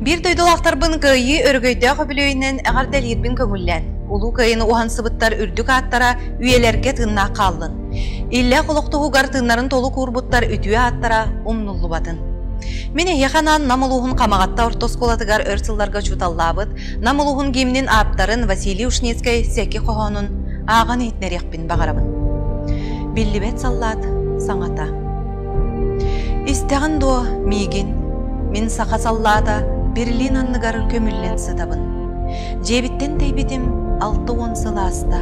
Биир дойдулаахтарбын кыайыы өрөгөйдөөх үбүлүөйүнэн эҕэрдэлиирбин көҥүллээн, Улуу Кыайыыны уһансыбыттар үрдүк ааттара үйэлэргэ тыыннаах хааллын. Иллээх олох туһугар тыыннарын толук уурбуттар үтүө ааттара умнуллубатын. Мин эһиэхэ анаан Нам улууһун Хамаҕатта орто оскуолатыгар өр сылларга учууталлаабыт, Нам улууһун гимнин ааптарын Василий Ушницкай сэки хоһоонун ааҕан иһитиннэриэх иһиэхпин баҕарабын. Биллибэт саллаат саҥата. Истэҕин дуо миигин? Мин саха саллаата Берлин анныгар көмүллэн сытабын. Дьиэбиттэн тэйбитим алта уон сыл ааста.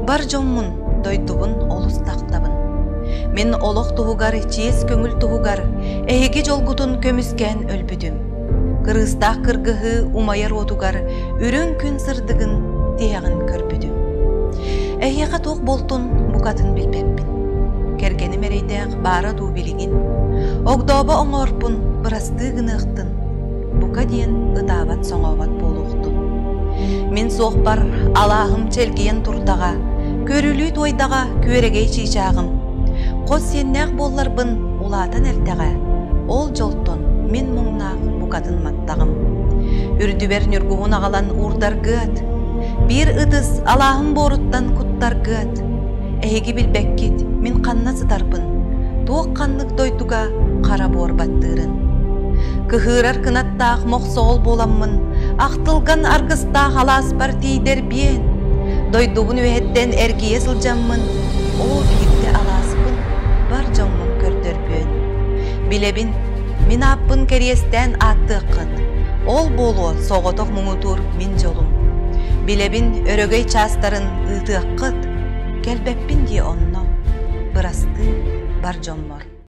Бар дьоммун, дойдубун олус тахтабын. Мин олох туһугар, чиэс көҥүл туһугар, эһиги дьолгутун көмүскээн өлбүтүм. Кырыыстаах кыргыһыы умайар уотугар үрүҥ күн сырдыгын тиһэҕин көрбүтүм. Эһиэхэ туох буолтун букатын билбэппин. Кэргэним эрэйдээх баара дуу билигин. Огдообо оҥорпун бырастыы гыныахтын. Бука диэн ытаабат-соҥообот буолуохтун. Мин суохпар алааһым чэлгийэн турдаҕа, көрүлүү туойдаҕа күөрэгэй чыычааҕым Хос сиэннээх буолларбын улаатан эрдэҕэ, ол дьолтон мин муҥнаах букатын маттаҕым. Үрдүбэр ньургуһун аҕалан уурдаргыат, биир ытыс алааһым буоруттан куттаргыат. Эһиги билбэккит мин ханна сытарбын, туох ханнык дойдуга хара буор баттыырын. Кыһыырар кынаттаах мохсоҕол буоламмын, ахтылган аргыстаах алааспар тиийдэр биэн. Дойдубун үөһэттэн эргийэ сылдьаммын, Оо, биирдэ алааспын бар дьоҥҥун көрдөрбүөн. Билэбин, мин ааппын кэриэстээн ааттыаххын. Ол буолуо соҕотох муҥутуур мин дьолум. Билэбин өрөгөй чаастарын ыытыаххыт. Кэлбэппин дии онно. Бырастыы бар дьоммор.